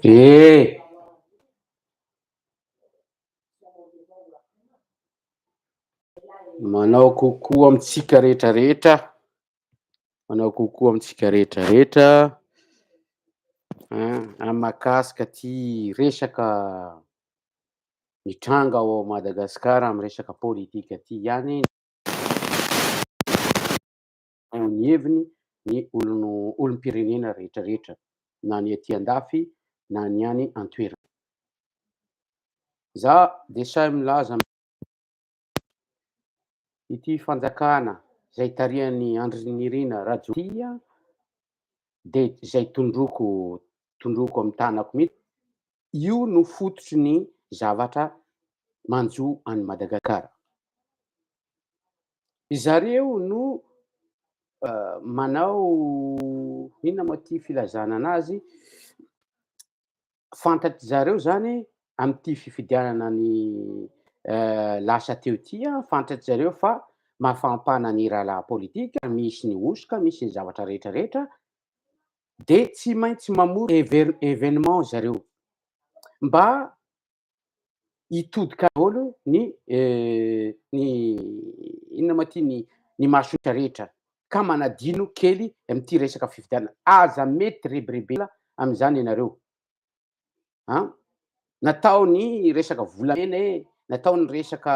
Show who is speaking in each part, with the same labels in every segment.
Speaker 1: Eh! Manao kokoa amintsika rehetra rehetra. Manao kokoa amintsika rehetra rehetra. Amakasika ty resaka mitranga ao Madagasikara amin'ny resaka politika ty ihany. eo ny heviny ny olom-pirenena rehetra rehetra na ny aty an-dafy na ny any an-toerana. Za dia sahy milaza ity fanjakana izay tarihan'ny Andry Nirina Rajoelina dia izay tondroko tondroko amin'ny tanako mihitsy Io no fototry ny zavatra manjo an'i Madagasikara. Ry zareo no manao inona moa ity filazana anazy, fantatry zareo izany amin'ity fifidianana ny lasa teo ity, fantatry zareo fa mafampana ny rahalahy politika, misy ny hosoka, misy ny zavatra rehetra rehetra, de tsy maintsy mamory ever- evenement zareo mba hitodika daholo ny eh, ny inona ma ty ny ny mahasotra rehetra ka manadino kely amin'ity resaka fifidianana aza mety rebirebela amin'izany ianareo a natao ny resaka volamena e natao ny resaka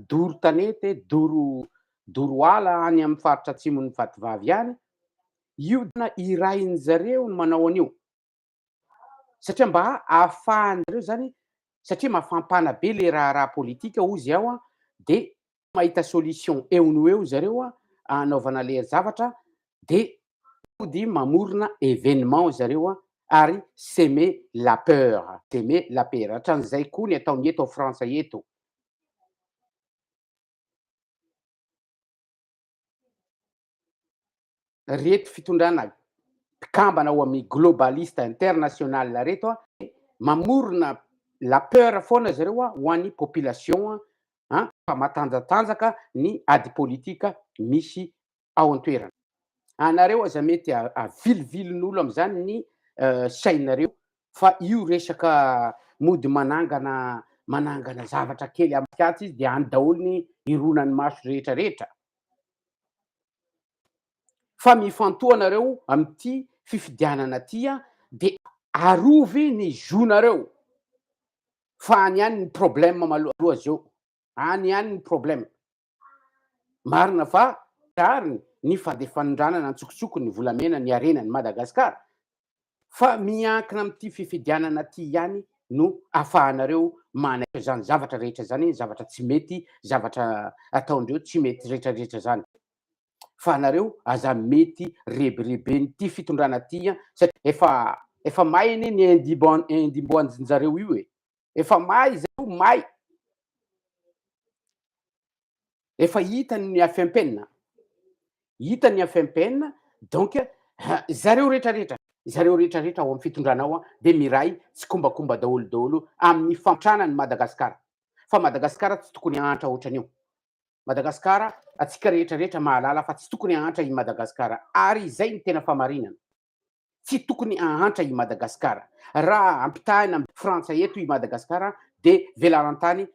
Speaker 1: doro tanety e doro doro ala any amin'ny faritra atsimon'ny vatovavy any io dina irain'ny zareo ny manao an'io satria mba ahafahan'zareo zany satria mafampana be le raharaha politika ozy ao a dia mahita solution eo no eo zareo a anaovana le zavatra de mody mamorona événement zareo a ary seme la peur seme la peur hatran'izay koa ny ataony eto frantsa eto reto fitondrana mpikambana ao amin'ny globaliste international reto a mamorona la peur foana zareo a ho an'ny population a fa matanjatanjaka ny ady politika misy ao an-toerana anareo aza mety avilivilin'olo amin'izany ny euh, sainareo fa io resaka mody manangana manangana zavatra kely amin'ny fiatsy izy dia any daholo ny ironan'ny maso rehetra rehetra fa mifantoha nareo amty fifidianana ty a de arovy ny zo nareo fa any ihany ny problème maloha zeo any ihany ny problème marina fa rariny ny fandefanindranana antsokosoko ny volamena ny harena ny Madagascar fa miankina amin'ity fifidianana ity ihany no afahanareo manaisotra izany zavatra rehetra izany, zavatra tsy mety, zavatra ataondreo tsy mety retraretra izany. Fa anareo aza mety rebireben'ity fitondrana ity an, satria efa efa may anie ny indimboan-dRinjareo io e! Efa may izay o, may. Efa hita ny afempena. Hita ny afempena, donc zareo rehetra rehetra, zareo rehetra rehetra ao amin'ny fitondrana ao dia miray tsikombakomba daholo daholo amin'ny fantrana ny Madagasikara. Fa Madagasikara tsy tokony hahantra ohatran'io. Madagasikara, antsika rehetra rehetra mahalala fa tsy tokony hahantra i Madagasikara. Ary izay ny tena famarinana. Tsy tokony ahantra i Madagascar. Raha ampitahina am Frantsa eto i Madagascar dia velarantany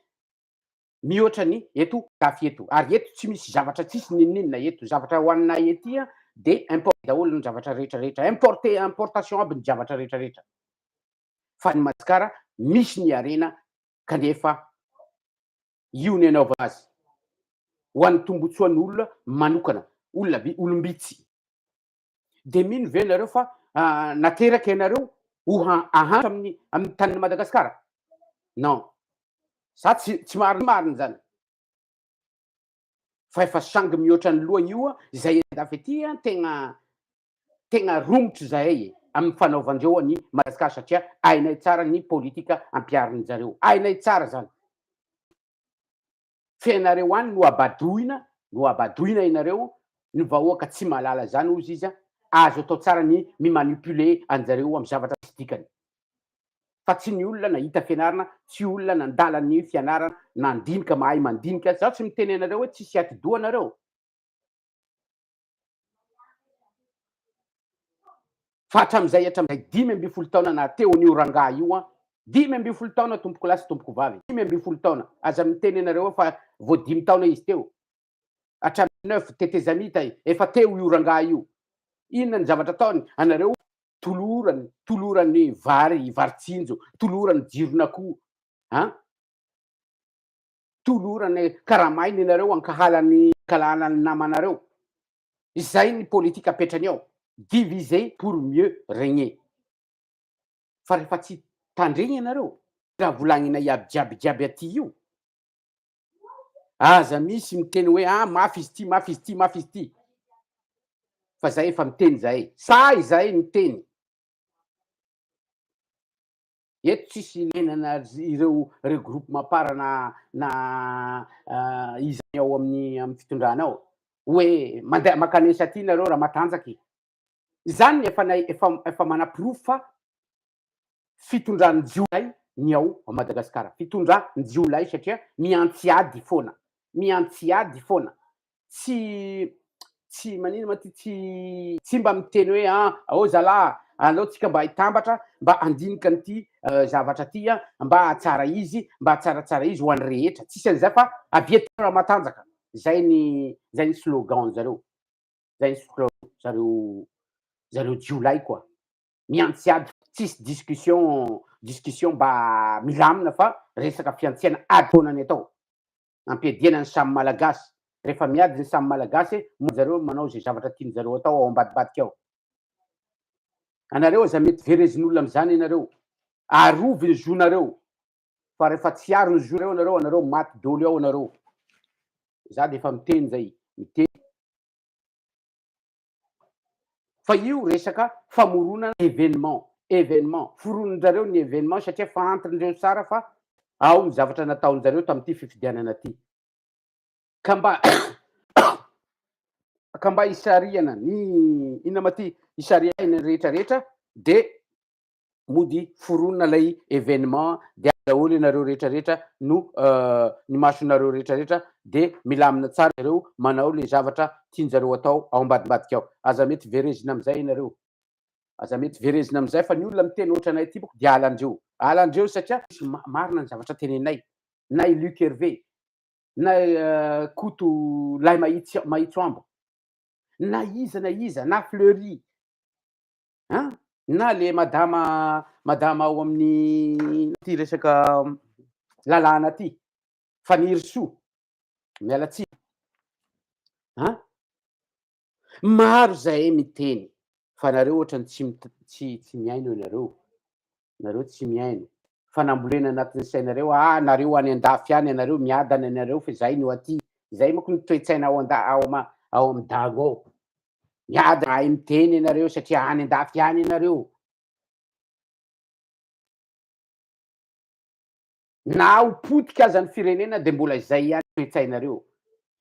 Speaker 1: mihoatra ny eto dafy eto. Ary eto tsy misy zavatra tsisy ninoninona eto. Zavatra hoaninay ety dia import daholo ny zavatra rehetra rehetra. Importe importation aby ny javatra rehetra rehetra. Fa ny Madagascar misy ny harena kanefa io ny anaovana azy hoany tombotsoan olona manokana olona olom bitsy. dia mino ve nareo fa nateraka ianareo ho ahantra amin'ny amin'ny tanin'i Madagasikara? Non. Za tsy tsy marina marina zany. Fa efa sangy mihoatra ny loha io izay andafy aty tegna tegna romotra zahay e amin'ny fanaovan-dreo an'i Madagasikara satria hainay tsara ny politika ampiharin-jareo. Hainay tsara zany. tsy hainareo any no habadoina no habadoina ianareo ny vahoaka tsy mahalala zany hozy izy a azo atao tsara ny mi manipuler anjareo am zavatra tsy dikany fa tsy ny olona nahita fianarana tsy olona nandala ny fianarana nandinika mahay mandinika zaho tsy miteny anareo hoe tsisy atidoha nareo Fa hatramin'izay hatramin'izay dimy ambin'ny folo taona nahateo an'io rangahy io an, dimy ambin'ny folo taona tompoko lahy sy tompoko vavy, dimy ambin'ny folo taona, aza miteny ianareo ao fa vao dimy taona izy teo, hatramin'ny neuf tetezamita efa teo io rangahy io, inona ny zavatra ataony anareo, tolorany, tolorany vary, vary tsinjo, tolorany jiron'akoho an. tolorana karamaina ianareo ankahala ny ankalahana ny namanareo izay ny politika apetrany ao diviser pour mieux regner fa rehefa tsy tandregny ianareo raha volagninay iaby jiaby jiaby aty io aza misy miteny hoe ah mafy izy ty mafy izy ty mafy izy ty fa zay efa miteny zahay sahy zahay miteny Eto tsisy ilainana ireo regroupement par na na iza ny ao amin'ny amin'ny fitondrana ao. Hoe mandeha makany esa aty nareo raha matanjaka e. Izany ny efa efa efa manaporofo fa fitondran'ny jiolahy ny ao Madagasikara. Fitondran'ny jiolahy satria miantsiady foana. Miantsiady foana. tsy tsy manina ma ty tsy tsy mba miteny hoe a ao zalaha aleo tsika mba hitambatra mba andinika an'ity zavatra ty a mba hahatsara izy mba hahatsaratsara izy ho an'ny rehetra tsisy an'izay fa avy eto Ramatanjaka zay ny zay ny slogan zareo zay ny slogan zareo zareo jiolahy koa miantsy ady tsisy discussion discussion mba milamina fa resaka fiantsiana ady foana ny atao ampiadiana ny samy malagasy rehefa miady ny samy malagasy moa zareo no manao izay zavatra tiany zareo hatao ao ambadibadika ao anareo aza mety verezin'olona amizany ianareo arovy ny zonareo fa rehefa tsy aro ny zoreo anareo anareo maty doly ao anareo za defa miteny zay miteny Fa io resaka famoronana événement, événement, foronin-drareo ny événement satria fantrin-dreo tsara fa ao ny zavatra nataon-jareo tamin'ity fifidianana ity. Ka mba ka mba hisarihana ny inona ma ty, hisarihana ny rehetra rehetra dia mody foronina ilay événement dia daholo ianareo rehetra rehetra no ny masonareo rehetra rehetra dia milamina tsara ianareo manao ilay zavatra tianjareo atao ao ambadimbadika ao aza mety verezina amin'izay ianareo aza mety verezina amin'izay fa ny olona miteny ohatra anay ity boko dia alandreo alandreo satria marina ny zavatra tenenay na i Luc Hervé na Koto lahy mahitsy mahitso ambo na iza na iza na Fleury An! na le madama madama ao amin'ny ity resaka lalàna ity, Fanirisoa, miala tsiny an! maro zahay miteny fa nareo ohatrany tsy tsy mihaino ianareo, nareo tsy mihaino fa nambolena anatin'ny sainareo ah nareo any andafy any anareo miadana nareo fa izay no aty izay moko ny toetsaina ao anda ao ama ao amin'ny dago ao miadana ahy miteny ianareo satria any andafy any ianareo Na ho potika aza ny firenena dia mbola izay ihany ny toe-tsainareo.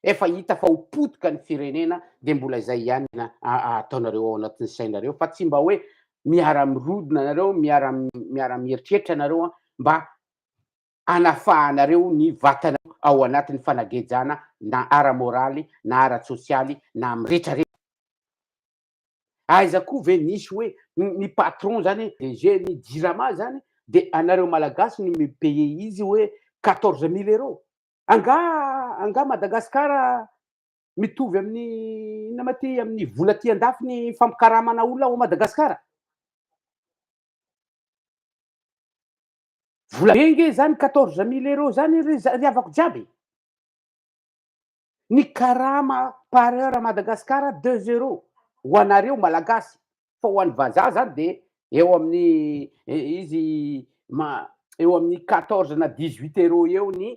Speaker 1: Efa hita fa ho potika ny firenena dia mbola izay ihany ny ataonareo ao anatin'ny sainareo fa tsy mba hoe miara-mirodona nareo, miara-mieritreritra nareo mba hanafahanareo ny vatanareo ao anatin'ny fanagejana na ara-moraly na ara-tsosialy na amin'ny retraretra. Aiza koa ve nisy hoe ny patron zany DG ny jirama zany de anareo malagasy no mi paye izy hoe quatorze mille euro? Angaha angaha Madagascar mitovy amin'ny inona ma ty amin'ny vola aty andafy ny fampikaramana olona ao Madagascar? Vola be nge zany quatorze mille euro zany ry ry havako jiaby e! Ny karama par heure à Madagascar deux euros ho anareo malagasy fa ho an'ny vazaha zany de eo amin'ny izy ma eo amin'ny quatorze na dix huit euros eo ny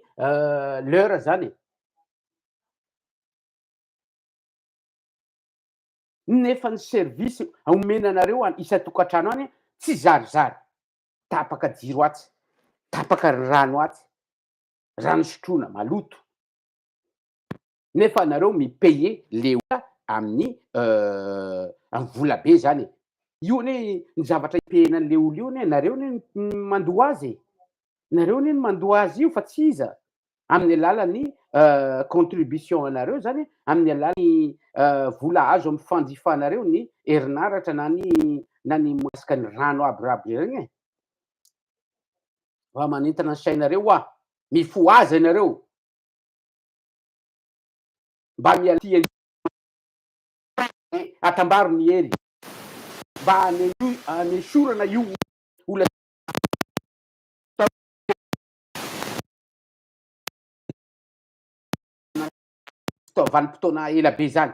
Speaker 1: l'heure zany e. Nefa ny service omena anareo any isan-tokantrano any tsy zarizary, tapaka jiro atsy, tapaka ny rano atsy, rano sotroina maloto nefa anareo mi payer le olona amin'ny amin'ny vola be zany e! io anie ny zavatra ipayena an'le olona io anie nareo anie no mandoa azy e! nareo anie no mandoa azy io fa tsy iza amin'ny alalan'ny contribution anareo zany amin'ny alalan'ny vola azo amin'ny fanjifanareo ny herinaratra na ny na ny moasika ny rano aby raby regny e! Raha manintona ny sainareo hoa, mifohaza ianareo. Mba mial tia ny atambaro ny hery. Mba anesorana io olana vanim-potoana ela be izany.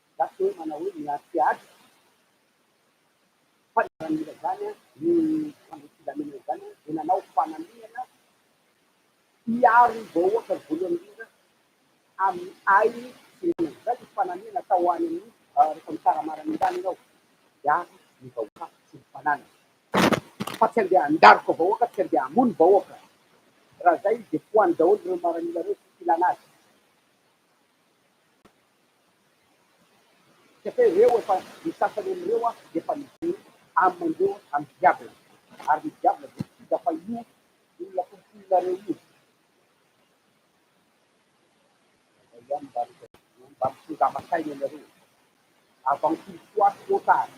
Speaker 1: Gasy hoe manao hoe ny art theatre fa niaramila izany ny mpandroso filaminana izany dia nanao fanamiana hiaro ny vahoaka voalohany indrindra amin'ny ainy sy ny anany izany ny fanamiana atao any amin'ny rehefa mikaramaran ny rano ianao dia ampy ny vahoaka sy ny fananany fa tsy andeha handaroka vahoaka tsy andeha hamono vahoaka raha izay izy dia foany daholo ireo maramila ireo tsy filana azy Satria ireo efa, ny sasany amin'ireo dia efa mijery aminy ireo amin'ny diable, ary ny diable dia tsy hita fa io olona tompoinareo io izay ihany mba no mba mitongava saina anareo e! Avant qu'il soit trop tard,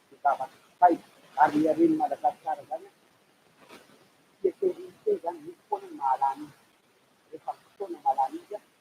Speaker 1: mitongava saina ary ny haren'i Madagasikara izany an, tsy eken'ny Unité izany, misy foana ny mahalany izy, rehefa misy fotoana mahalany izy an,